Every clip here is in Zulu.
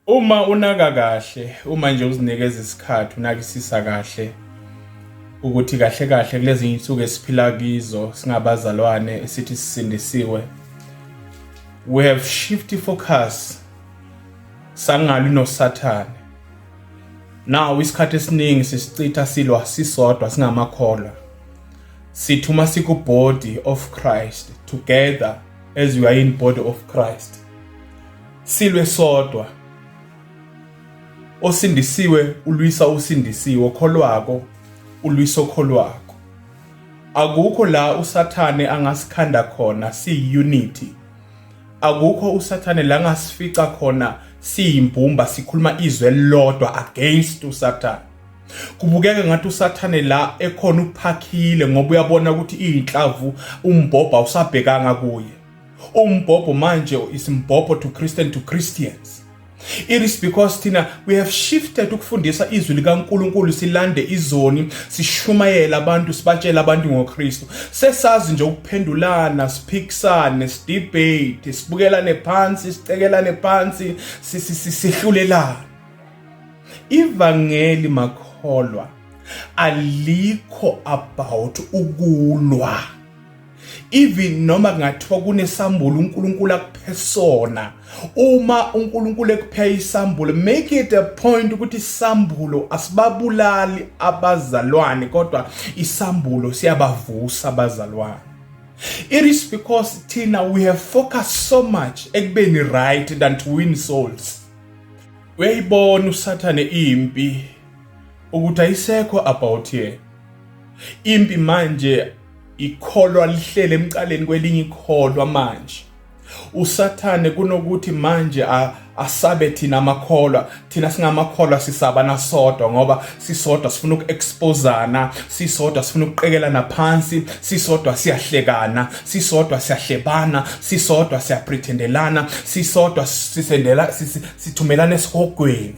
Uma unaka kahle, uma nje uzinikeza isikhathi, unakisisa kahle ukuthi kahle kahle kulezi insuku esiphila kizo singabazalwane esithi sisindisiwe. We have shifty focus sangali noSathane. Now isikhathi esiningi sisichitha silwa sisodwa singamakholwa. Sithi uma siku body of Christ together as we are in body of Christ silwe sodwa osindisiwe ulwisa usindisiwe okholwako ulwisa okholwako akukho la usathane angasikhanda khona siyi-unity akukho usathane la ngasifica khona siyimbumba sikhuluma izwe elilodwa against usathane kubukeka ngathi usathane la ekhona uphakhile ngoba uyabona ukuthi iyinhlavu umbhobha usabhekanga kuye umbhobho manje isimbhobho to Christian to Christians It is because thina we have shifted ukufundisa izwi likaNkuluNkulu silande izoni sishumayela abantu sibatshela abantu ngoKristu sesazi nje ukuphendulana siphikisane sidebate sibukelane phansi sicekelane phansi sihlulelana Ivangeli makholwa alikho about ukulwa even noma kungathiwa kunesambulo uNkulunkulu akuphe sona uma uNkulunkulu ekuphe isambulo make it a point ukuthi isambulo asibabulali abazalwane kodwa isambulo siyabavusa abazalwane It is because Tina we have focused so much ekubeni right than to win souls. Uyayibona usathane impi ukuthi ayisekho about here. Impi manje ikholwa lihlele emcaleni kwelinye ikholwa manje usathane kunokuthi manje asabe thina amakholwa thina singamakholwa sisaba nasodwa ngoba sisodwa sifuna uku-expozana sisodwa sifuna ukuqekelana phansi sisodwa siyahlekana sisodwa siyahlebana sisodwa siyaprethendelana sisodwa sisendela sithumelana esihogweni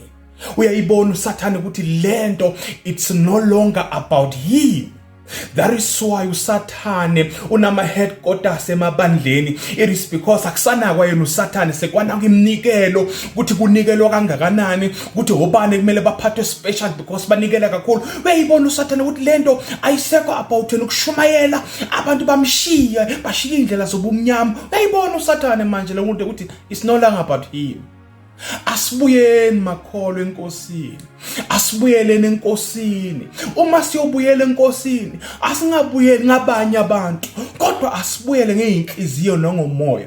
uyayibona usathane ukuthi lento it's no longer about him That is why usathane unama headquarters emabandleni it is because akusanakwa yena usathane sekwana kwimnikelo ukuthi kunikelwa kangakanani ukuthi obani kumele baphathwe special because banikela kakhulu uyayibona usathane ukuthi lento ayisekho about wena ukushumayela abantu bamshiye bashiye indlela zobumnyama uyayibona usathane manje lo muntu ukuthi it's no longer about him Asibuyeni makholwa enkosini. Asibuyeleni enkosini. Uma siyobuyela enkosini, asingabuyeli ngabanye abantu, kodwa asibuyele ngeenhliziyo nangomoya.